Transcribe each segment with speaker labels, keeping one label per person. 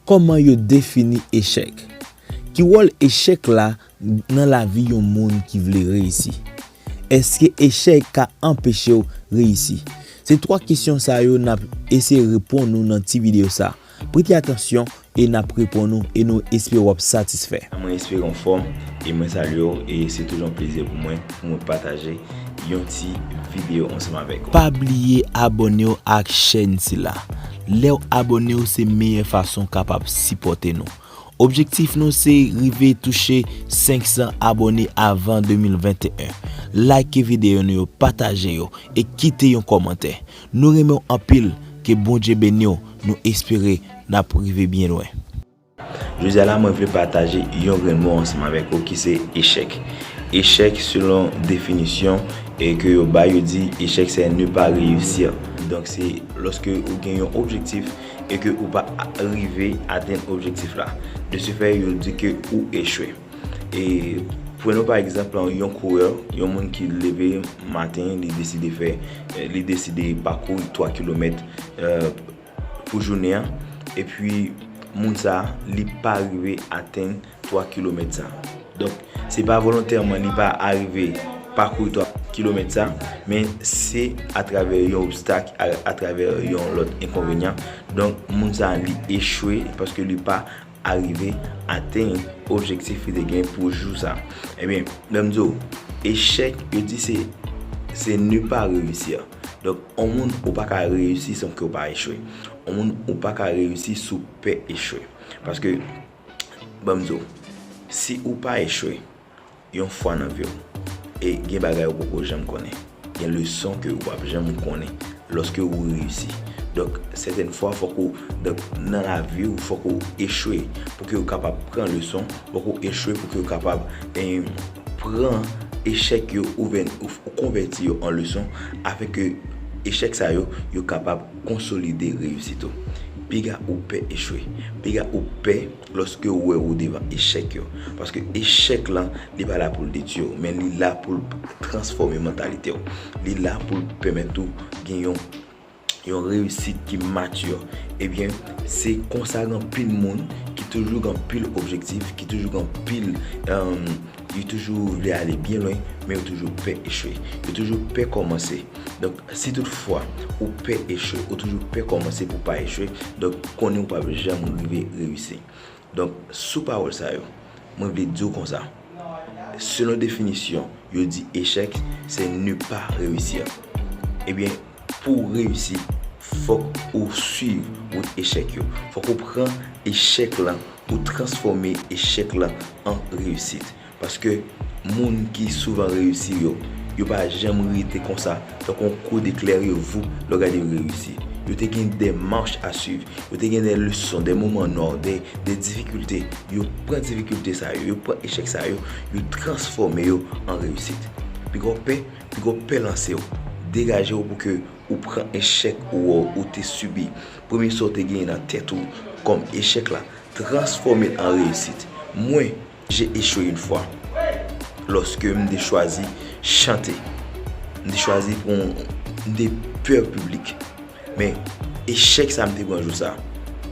Speaker 1: Kòman yo defini echèk? Ki wòl echèk la nan lavi yon moun ki vle reyisi? Èske echèk ka anpeche w reyisi? Se twa kesyon sa yo n ap eseye reponn ou nan ti videyo sa a. Prete atansyon e nap reponn ou e nou espere wap satisfè. Mwen espere ou anfòm
Speaker 2: e mwen salye ou e se toujou yon plezi pou mwen pou mwen pataje yon ti video ansanm avèk ou. Pa bliye
Speaker 1: abònew ak chèn sila. Lèw abònew se meyè fason kapab sipòte nou. Objektif nou se rive touche 500 abòne avan 2021. Like video nou yo, pataje yo e kite yon kòmantè. Nou renmenw anpil ke bondye beniw nou espere nap rive byen lwen. Jodi
Speaker 2: a la mwen vle pataje yon grenn mo ansanm avèk ou ki se echèk. Echèk selon definisyon ke yo bay yo di echèk se ne pas réussir. Donk se loske ou gen yon objektif e ke ou pa rive atenn objektif la. De se fè yo di ke ou echwe. E pwen nou pa egzanp lan yon kourè, yon moun ki leve maten li deside fè, li deside pakou 3 kilomèt pou jounen an. E pwi moun sa li pa rive atenn 3 kilomèt sa. Donk se pa volontèman li pa arive pakou 3 kilomèt sa. Men se atravè yon obstak, atravè yon lòt enkonvenyan. Donk moun sa li echwe paske li pa. arive atenn objektif li te gen pou jou sa. Ebyen, lè m di w, echèk, yo di se, se ne pas réussir. Donk, on moun ou pa ka reyisi san ke ou pa echwe. On moun ou pa ka reyisi si w pè echwe. Paske, ban m di w, si ou pa echwe, Yon fwa nan vi w. E gen bagay ou poko janm konnen. Gen leson ke ou pap janm konnen loske ou reyisi. Donk, sètèn fwa fok ou, donk nan lavi ou fok ou echwe pou ke ou kapab pran leson, fok ou echwe pou ke ou kapab pran echèk yo oubyen ou konvèti yo an leson afin ke echèk sa yo, yo kapab konsolide reyisit ou. Piga ou pè echwe. Piga ou pè. Lòske ou wè ou devan echèk yo. Paske echèk lan, li pa la pou l detui w, men li la pou l transfòme mantalite w. Li la pou l pèmèt ou gen yon yon reyisit ki mature. Ebyen, se konsa gen anpil moun ki toujou gen anpil objektif, ki toujou gen anpil Yo toujou vle ale byen lwen, men yo toujou pè echwe. Yo toujou pè kòmanse. Donk, si tout fwa ou pè echwe, ou toujou pè kòmanse pou w pa echwe, donk konnen ou p ap janm rive reyisi. Donk, sou pawòl sa yo, mwen vle di w konsa, selon definisyon, yo di echèk se ne pas réussir. Ebyen. Pou w reyisi, fòk ou swiv wout echèk yo. Fòk ou pran echèk lan, ou transfòme echèk lan an reyisit. Paske moun ki souvan reyisi yo, yo pa janm rete konsa, tankou yon kou de klere vou lè w gade yo reyisi. Yo te gen de mach a swiv, yo te gen de leson, de moman nò, de difikilte. Yo pran difikilte sa yo, yo pran echèk sa yo, yo transfòme yo an reyisit. Pi gwo pè. Ki go pè lanse w. Degaje w pou ke ou pran echèk ou ou te sibi. Premye sa w te genyen nan tèt ou kòm echèk la, transfòme l an reyisit. Mwen, j'ai echwe yn fwa. Lòske m te chwazi chante. M te chwazi pou m te pè piblik. Men, echèk sa m te pran jou sa,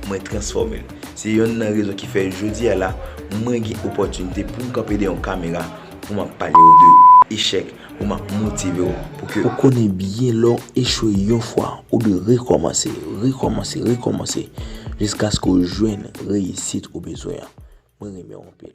Speaker 2: mwen transfòme l. Se yonn nan rezon ki fè jodi a la, mwen gen opòtinite pou m kanpe dèyè yon kamera. Pou map pale ou de echèk pou map motive ou pou ke. Ou konnen byen lè
Speaker 1: ou echwe yon fwa ou dwe rekòmanse, rekòmanse, rekòmanse jiskaske ou jwenn reyisit ou bezwen an. Mwen renmen ou anpil.